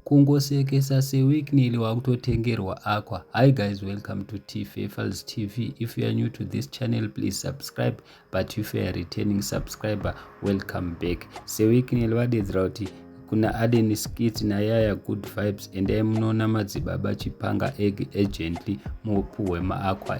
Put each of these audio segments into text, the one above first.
Kungosekesa se Wicknell wakutotengerwa aqua. Hi guys welcome to Tfefals TV. If you are new to this channel please subscribe but if you are returning subscriber welcome back. Se Wicknell vadedzera kuti kuna Aden Skits na Yaya Good Vibes endai munoona madzibaba Chipanga Egg urgently mupuhwe ma aqua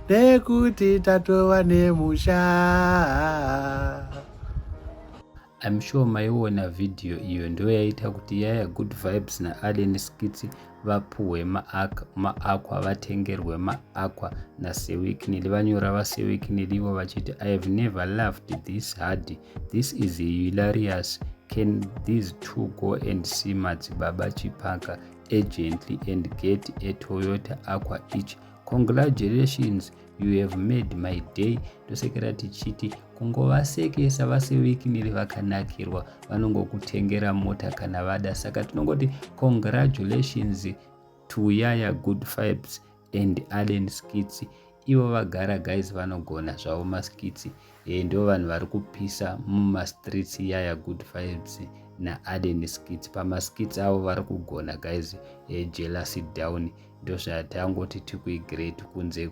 nekuti tatova nemusha I'm sure maiona video iyo ndiyo yaita kuti yaya good vibes naallen skits vapuhwe maak maakwa vatengerwe maakwa nasewiknili vanyora vasewiknili ivo vachiti i have never loved this hard this is hilarious can these two go and see madzibaba chipaka agently and get a toyota aqua each Congratulations you have made my day tosekera tichiti kungovasekesa vasewikiniri vakanakirwa vanongokutengera mota kana vada saka tinongoti congratulations to yaya good fibes and allen skits ivo vagara guys vanogona zvavo maskitsi e, ndo vanhu vari kupisa mumastreets yaya good fibes naallen skits pamaskits avo vari kugona guys e, jealousy down ndozvati angoti tikuigreat kunze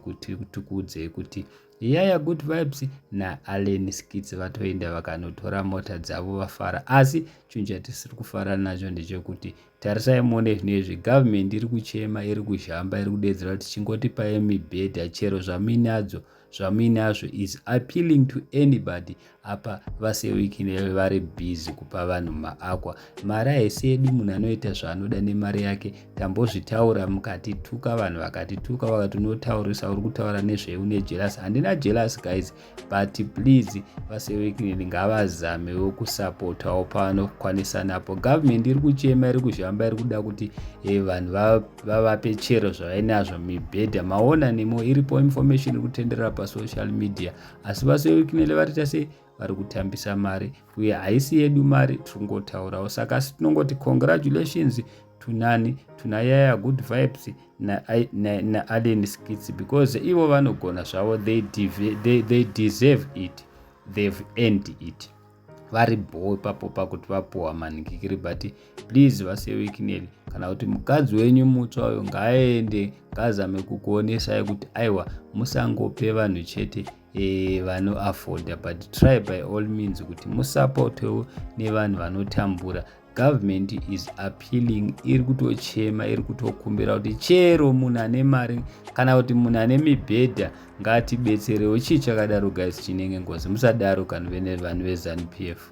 tikuudzei kuti yaya good vibes naallen skits vatoenda vakanotora mota dzavo vafara asi chinhu chatisiri kufara nacho ndechekuti tarisai muone zvino izvi government iri kuchema iri kuzhamba iri kudedzera kuti chingotipai mibhedha chero zvamuinadzo zvamuinazvo is appealing to anybody apa vasewikine vari busy kupa vanhu maakwa mari haisi yedu munhu anoita zvaanoda nemari yake tambozvitaura mukatituka vanhu vakatituka vakati unotaurisa uri kutaura nezvei une jelas handina jelas guys but please vasewikine ngavazamewo kusapotawo pavanokwanisa napo government iri kuchema iri kuzhamba iri kuda kuti eh, vanhu vavape chero zvavainazvo mibhedha maona nemo iripo information iri kutenderera pasocial media asi vasoikinele vatiita sei vari kutambisa mari uye haisi yedu mari tiri kungotaurawo saka asi tinongoti congratulations tunani tunayaya good vibes naallen na, na skits because ivo vanogona zvavo they, they, they deserve it they've end it vari bho ipapo pakuti vapuwa manikikiri but please vasewekineri kana kuti mukadzi wenyu mutsva uyo ngaaende ngaazame kukuonesai kuti aiwa musangope vanhu chete e, vanoafforda but try by all means kuti musapotewo nevanhu vanotambura government is appealing iri kutochema iri kutokumbira kuti chero munhu ane mari kana kuti munhu ane mibhedha ngatibetserewo chii chakadaro guys chinenge ngozi musadaro kana vene vanhu vezanu p f